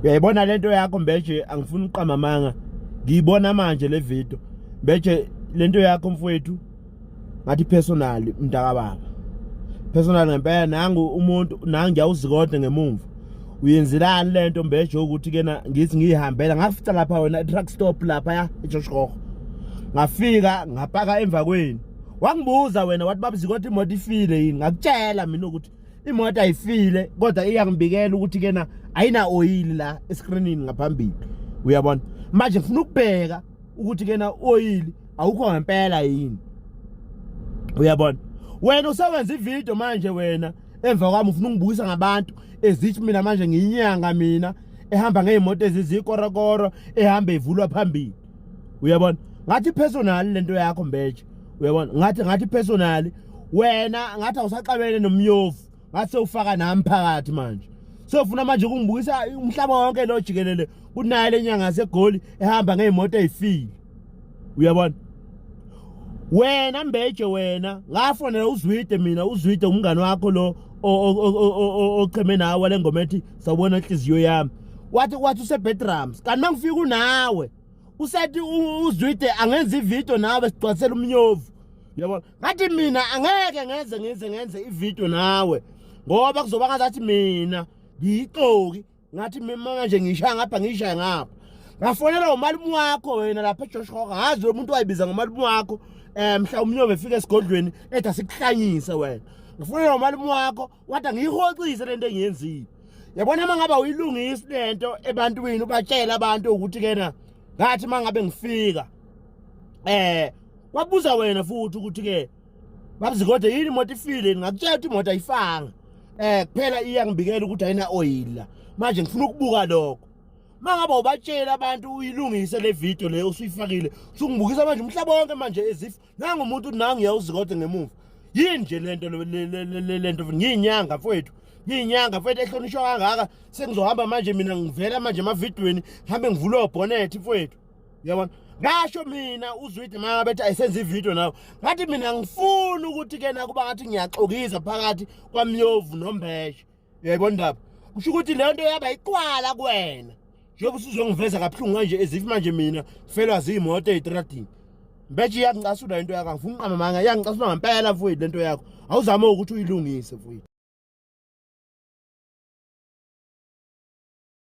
uyayibona lento yakho mbeje angifuni uqama manga ngiyibona manje le video mbeje lento yakho mfowethu ngathi personal mntaka baba personal ngempela nangu umuntu nangu ngiyawuzikodwa ngemumva uyenzelani lento mbeje ukuthi kena ngithi ngiyihambela ngafica lapha wena truck stop lapha ya eJoshkhoho ngafika ngapaka emva kwenu wangibuza wena wathi babuzikothi imoto ifile yini ngakutshela mina ukuthi imoto ayifile kodwa iyangibikela ukuthi kena ayina oyili la escreenini ngaphambili uyabona manje ngifuna ukubheka ukuthi kena oyili awukho ngempela yini uyabona wena usewenza ivideo manje wena emva kwami ufuna ungibukisa ngabantu ezithi mina manje ngiyinyanga mina ehamba ngeyimoto ezizikorakoro ehamba evulwa phambili uyabona ngathi personal lento yakho mbeje uyabona ngathi ngathi personal wena ngathi awusaxabene nomyofu ngathi sewufaka nami phakathi manje sofuna manje kungibukisa umhlaba wonke lo jikelele kunaye lenyanga segoli ehamba ngeimoto ezifile uyabona wena mbeje wena ngafonela uzwide mina uzwide umngane wakho lo ocheme nawe lengoma ethi sawubona inhliziyo yami wathi wathi usebedrums kanti mangifika unawe usethi uzwide angenza ivideo nawe sigcwasela umnyovu yabona ngathi mina angeke ngenze ngenze ngenze ivideo nawe ngoba kuzoba ngazathi mina ngiyixoki ngathi mina nje ngishaya ngapha ngishaya ngapha ngafonela umalume wakho wena lapha ejosh hoka ngazi lo muntu wayibiza ngomalume wakho um mhla umnyovu efika esigodlweni ethi asikuhlanyise wena ngifonela umalume wakho wada ngiyihoxise lento engiyenzile yabona uma ngaba uyilungisi lento ebantwini ubatshela abantu ukuthi kena ngathi uma ngabe ngifika eh wabuza wena futhi ukuthi ke babzi kodwa yini imoto ifile ngakutshela ukuthi imoto ayifanga eh kuphela iyangibikela ukuthi ayina oil la manje ngifuna ukubuka lokho mangaba ubatshela abantu uyilungise le video leyo usuyifakile usungibukisa manje umhlaba wonke manje as if nangu umuntu nangu yawuzikode ngemuva yini nje lento lento ngiyinyanga mfowethu ngiyinyanga mfowethu ehlonishwa kangaka sengizohamba manje mina ngivela manje emavidweni ngihambe ngivule obhonethi mfowethu uyabona ngasho mina uzwide mama bethi ayisenza ividiyo nawe ngathi mina ngifuni ukuthi kena kuba ngathi ngiyaxokisa phakathi kwamyovu nombeshe yebo ndaba kusho ukuthi leyo nto yaba iqwala kuwena njengoba usuzongiveza kabuhlungu kanje ezifi manje mina felwa ziyimoto eyitradini mbeje iyakuncasula into yakho angifuni uqama manga iyangincasula ngempela mfowethu lento yakho awuzame ukuthi uyilungise mfowethu